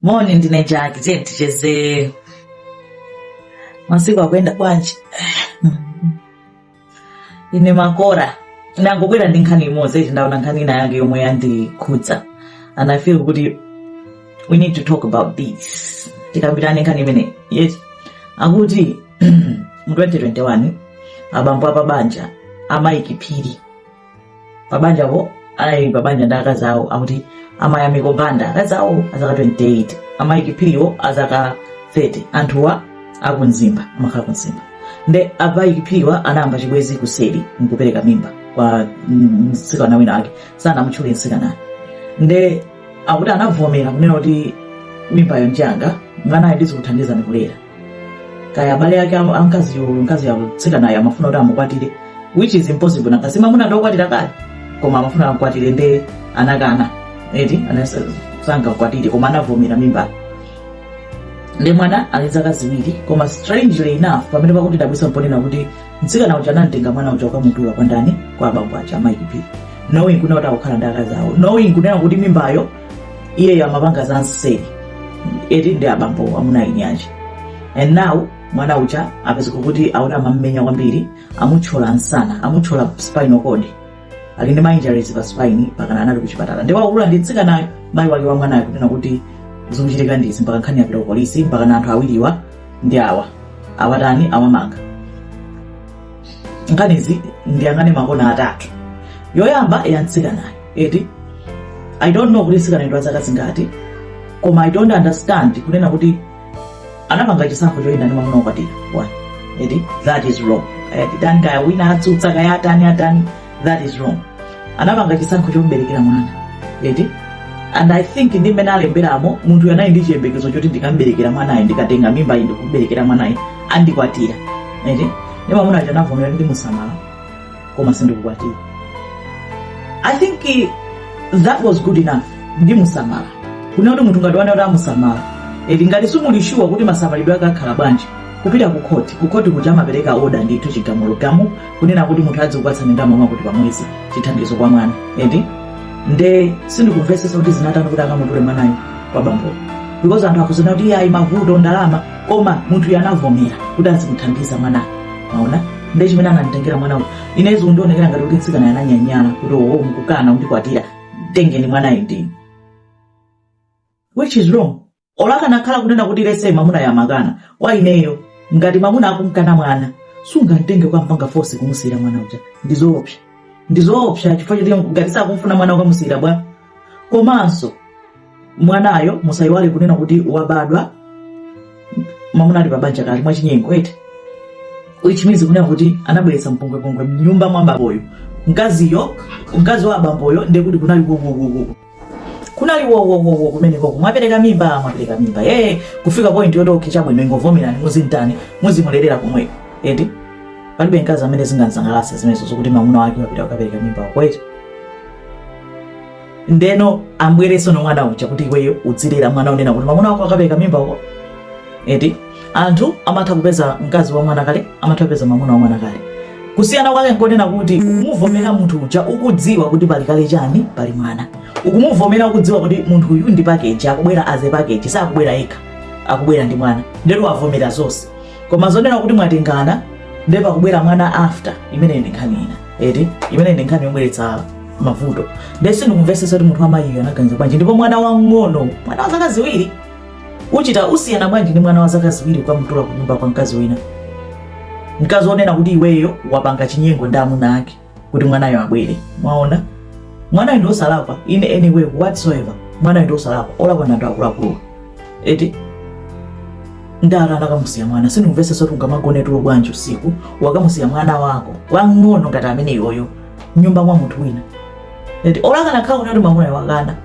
Moni ndine Jaki, tiye ticheze. Masiku akuyenda bwanji? Ine makora. Ndangobwera ndi nkhani imodzi eti ndaona nkhani ina yake yomwe yandikhudza. And I feel kuti we need to talk about this. Tikambirane nkhani imeneyi. Yes. Akuti mu 2021 abambo apabanja a Mike Phiri pabanjapo ali pabanja ndi akazi awo akuti a Yamiko Banda akazi awo azaka 28 a Mike Phiriwo azaka 30 anthuwa aku Mzimba amakhala ku Mzimba nde a Mike Phiriwa anayamba chibwezi kuseri nkupereka mimba kwa mm, mtsikana wina ake sanamutchule mtsikana nde akuti anavomera kunena kuti mimbayo njanga mwanayo ndizikuthandiza kulera kaya abale ake am- amkaziyo uyu mkaziyu amtsikanayo amafuna kuti amukwatire which is impossible nanga si mamuna adakwatira kale koma amafuna amkwatire nde anakana eti anasa- sangakwatire koma anavomera mimba ndi mwana ali zaka ziwiri koma strangely enough pamene pakutidabwitsa mponena kuti mtsikana uja anamtenga mwana uja kukamutula kwa ndani kwa abambo aja a Mike Phiri knowing kunena kuti akukhala ndi akazi awo knowing kunena kuti mimbayo iyeyo amapanga za mseri eti ndi abambo amene ajawa and now mwana uja apezeka kuti akuti amammenya kwambiri amutchola msana amutchola spinal cord ali ndi mainjuries pa spine mpakana anali kuchipatala ndipo waulula ndi mtsikanayo mayi wake wa mwanayo kunena kuti zikuchitika ndizi mpaka nkhani yapita ku polisi mpakana anthu awiriwa ndi awa- awatani awamanga nkhaniyi ndiyang'ane makona atatu yoyamba ya mtsikanayo eti i don't know kuti mtsikanayo ndi wazaka zingati koma i don't understand kunena kuti anapanga chisankho choyenda ndi mwamuna wokwatira one eti that is wrong eti dani kaya wina atsutsa kaya atani atani that is wrong anapanga chisankho chomuberekera mwana eti and i think ndi mmene alemberamo munthuyu anali ndi chiyembekezo choti ndikamberekera mwanayi ndikatenga mimbayi n'kumuberekera mwanayi andikwatira eti ndi mwamuna aja anavomera kuti ndimusamala koma sindikukwatira i think eh, that was good enough ndimusamala kunena kuti munthu ngati wanena kuti amusamala eti ngati simuli shuwa kuti masamalidwe ake akhala bwanji kupita ku khoti ku khoti kuja amapereka oda ndithu chigamulo gamu kunena kuti munthu adzikupatsani ndalama mwakuti pamwezi chithandizo kwa mwana eti nde sindikumvetsetsa kuti zinatani kuti akamutule mwanayo kwa bambo because anthu akuzanena kuti iye ayi mavuto ndalama koma munthuyu anavomera kuti azimuthandiza mwanayo mwaona ndiye chimene anamtengera mwana uyu ine zikundionekera ngati kuti mtsikanayu ananyanyala kuti oo mkukana kundikwatira mtengeni mwanayi ndi inu which is wrong olo akanakhala kunena kuti let's say mamunayu amakana kwa ineyo ngati mamuna akumkana mwana sungamtenge kukampanga fosi kumusiyira mwana uja ndizoopsa ndizoopsa chifukwa choti ngati sakumfuna mwana ukamusiyira bwa komanso mwanayo musayiwale kunena kuti wabadwa mwamuna ali pabanja kale mwachinyengo eti which means kunena kuti anabweretsa mpungwepungwe mnyumba mwa bamboyo mkaziyo mkazi wa abamboyo ndiye kuti kunali wowowowo kunali wowowowo kumeneko mwapereka mimba mwapereka mimba ee kufika point yoti okay chabwino ingovomerani muzintani muzimulerera kumweko eti palibe mkazi amene zingamsangalatse zimenezo zokuti mamuna wake wapita kukapereka mimba wako eti ndeno ambweretsenso mwana uja kuti iweyo udzilera mwana kunena kuti mamuna wako wakapereka mimba uko eti anthu amatha kupeza mkazi wa mwana kale amatha kupeza mamuna wa mwana kale kusiyana kwake nkonena kuti ukumuvomera munthu uja ukudziwa kuti pali kale chani pali mwana ukumuvomera ukudziwa kuti munthu uyu ndi package akubwera as a package sakubwera yekha akubwera ndi mwana ndeno wavomera zonse koma zonena kuti mwatengana nde pakubwera mwana after imene ndi nkhani ina eti imene ndi nkhani yobweretsa mavuto nde sindikumvetsetsa kuti munthu amayiyo anaganiza bwanji ndipo mwana wang'ono mwana wa zaka ziwiri kuchita kusiyana bwanji ndi mwana wa zaka ziwiri kukamtula kunyumba kwa mkazi wina mkazi onena kuti iweyo wapanga chinyengo ndi amuna ake kuti mwanayo abwere mwaona mwanayo ndi osalakwa in any way whatsoever mwanayo ndi osalakwa olakwa ndi anthu akuluakuluwa eti ndiye anakamusiya mwana sindimvetsetsa kuti ungamagone tulo bwanji usiku wakamusiya mwana wako wang'ono ngati ameneyo m'nyumba mwa munthu wina eti olo akanakhala kuti mamuna wakana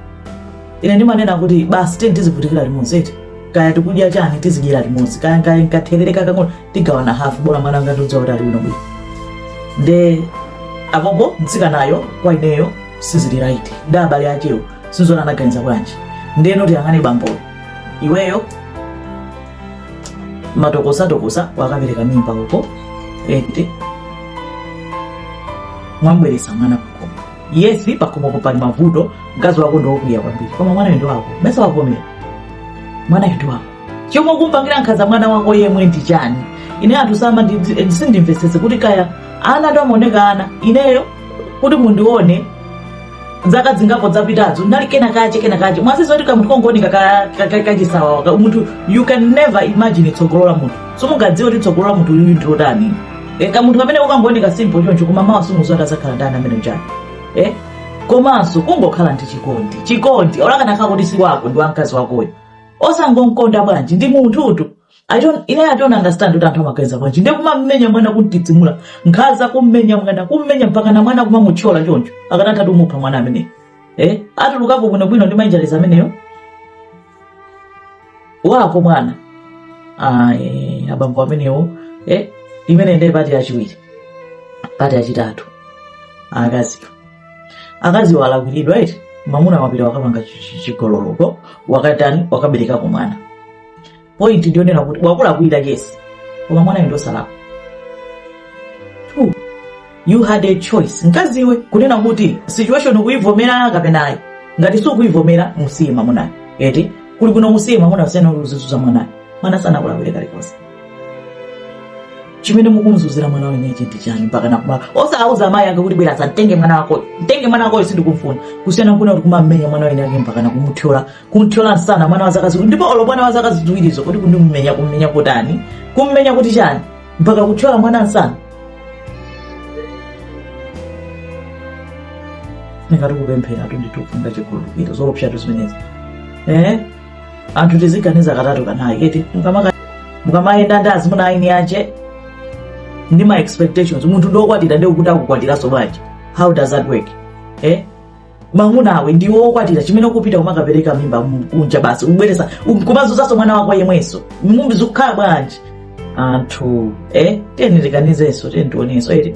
ine ndimanena kuti basi teni tizivutikira limodzi eti kaya tikudya chani tizidyera limodzi kaya kaya ndi katherere kakang'ono tigawana hafu bola mwana wanga ndikudziwa kuti ali bwino bwino nde apopo mtsikanayo kwa ineyo sizili right ndi abale achewo sindiziwa anaganiza bwanji ndeno tiyang'ane bamboyo iweyo mwatokosatokosa wakapereka mimba uko eti mwambweretsa mwana pakhomo yes pakhomopo pali mavuto mkazi wako ndiwokwiya kwambiri koma mwanayo ndi wako mesa wavomera mwanayo ndi wako chomwe ukumpangira nkhanza mwana wako yemwe ndi chani ine anthu sama ndi- ndi- sindimvetsetse kuti kaya ana ati amaoneka ana ineyo kuti mundione zaka zingapo zapitazo ndali kena kache kena kache mwadziwa kuti kamunthu kongooneka ka- ka- ka- kachisawawa ka- munthu you can never imagine tsogolo la munthu simungadziwe kuti tsogolo la munthu uyu ndi lotani eh, kamunthu amene ukangooneka simple choncho koma mawa simuziwa kuti azakhala ndani amene ndi chani eh? komanso kungokhala ndi chikondi chikondi olo akanakhala kuti si wako ndi wamkazi wakoyo osangomkonda bwanji ndi munthutu I don't- ine i don't understand kuti anthu amaganiza bwanji ndi kumamenya mwana kumtidzimula nkhanza kummenya mwana kummenya mpaka na mwana kumamuthyola choncho akanatha kumupha mwana ameneyo eh? atulukapo bwinobwino ndi manjaliza ameneyo wako mwana ayi abambo amenewo eh? imene ndepati yachiwiri pati yachitatu akazi akaziwo alakwiridwa eti mamuna wapita wakapanga chi- chi- chigololoko wakatani wakaberekako mwana point ndiyonena kuti wakulakwira yes koma mwanayo ndiosalakwa two you had a choice mkaziwe kunena kuti situation ukuyivomera kapena ayi ngati sukuyivomera musiye mamunayo eti kulikuno musiye mamuna kusiyana uzizuza mwanayo mwana sanakulakwire kalikonse chimene mukumzuzira mwana wa eni chi ndi chani mpaka nakuma- osauza amayi ake kuti bwera uzatenge mwana wakoyo mtenge mwana wakoyo sindikumfuna kusiyana kunena kuti kumamenya mwana wa eni ake mpaka nakumuthyola kumthyola msana mwana wa zaka ziwiri ndipo olo mwana wa zaka ziwirizo kuti kumumenya kummenya kutani kummenya kuti chani mpaka kuthyola mwana msana ndi nkhani ya kupempheratu ndi kufuna chikhululukiro zoopsatu zimenezi eh anthu tiziganiza katatu kanayi eti mukamaka- mukamayenda ndi azimuna a eni ake ndi ma expectations munthu ndiokwatira nde ukuti akukwatiranso bwanji how does that work eh? mamuna iwe ndiwo wokwatira chimene ukupita umakapereka mimba mu- kunja basi ubwereso kumazuzanso mwana wako yemwenso m'nyumba zikukhala bwanji anthu eh? tiyeni tiganizenso tiyeni tionenso eti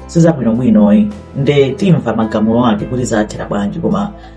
sizabwinobwinoyi nde timva magamulo ake kuti zathera bwanji koma